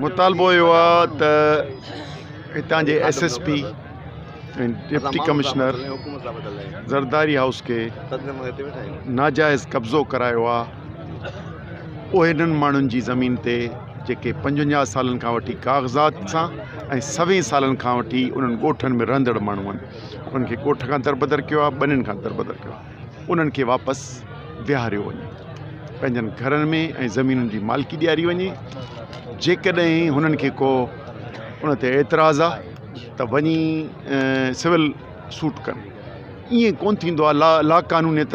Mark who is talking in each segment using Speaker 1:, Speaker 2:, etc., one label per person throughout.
Speaker 1: مطالبو اهو آ ته هتان جي S S P ۽ deputy commissioner Zardari house کي ناجائز قبضو ڪرايو آ اهي انهن ماڻهن جي زمين تي جيڪي پنجونجاهه سالن کان وٺي ڪاغذات سان ۽ سوين سالن کان وٺي انهن ڳوٺن ۾ رهندڙ ماڻهو آهن انهن کي ڳوٺ کان دربدر ڪيو آهي ٻنين کان دربدر ڪيو آهي انهن کي واپس ويهاريو وڃي پنهنجن گهرن ۾ ۽ زمينن جي مالڪي ڏياري وڃي جيڪڏهن هنن کي ڪو ان تي اعتراض آهي ته وڃي سول سوٽ ڪن ائين ڪون ٿيندو آهي لا لاقانونيت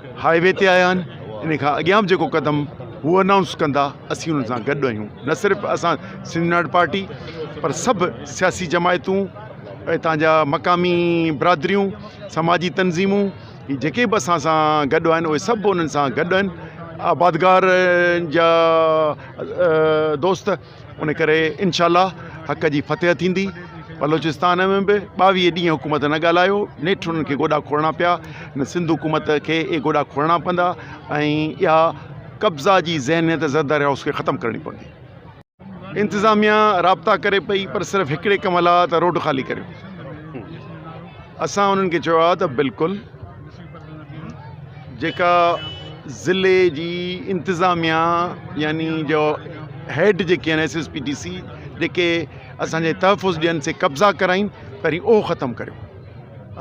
Speaker 1: هاء وي تي آيا آهن ان کان اڳيان به جيڪو قدم هو انائونس ڪندا اسين انهن سان گڏ آهيون نه صرف اسان سنڌ يونائٽيڊ پارٽي پر سڀ سياسي جماعتون هتان جا مقامي برادريون سماجي تنظيمون هي جيڪي به اسان سان گڏ آهن اهي سڀ انهن سان گڏ آهن آبادگار جا دوست ان ڪري انشاء الله حق جي فتح ٿيندي. بلوچستان ۾ به ٻاويهه ڏينهن حڪومت نه ڳالهايو، نيٺ انهن کي گوڏا کوڙڻا پيا، هن سنڌ حڪومت کي اهي گوڏا کوڙڻا پوندا ۽ اها قبضا جي ذهنيت زرداري هائوس کي ختم ڪرڻي پوندي. انتظاميا رابطا ڪري پئي پر صرف هڪڙي ڪم لا ته روڊ خالي ڪريو. اسان انهن کي چيو آهي ته بلڪل. جيڪا ضلعي جي انتظاميا يعني جو هيڊ جيڪي آهن S S P D C جيڪي اسانجي تحفظ ڏين سي قبضا ڪرائين پهرين اهو ختم ڪريو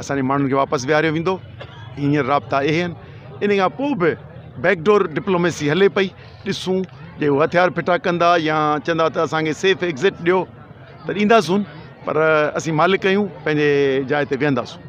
Speaker 1: اسانجي ماڻهن کي واپس ويهاريو ويندو هينئر رابطا اهي آهن ان کان پوء به بيڪڊور ڊپلوميسي هلي پئي ڏسون جي هو هٿيار ڦٽا ڪندا يا چوندا ته اسانکي سيف ايگزٽ ڏيو ته ڏينداسون پر اسين مالڪ آهيون پنهنجي جاء تي ويهنداسون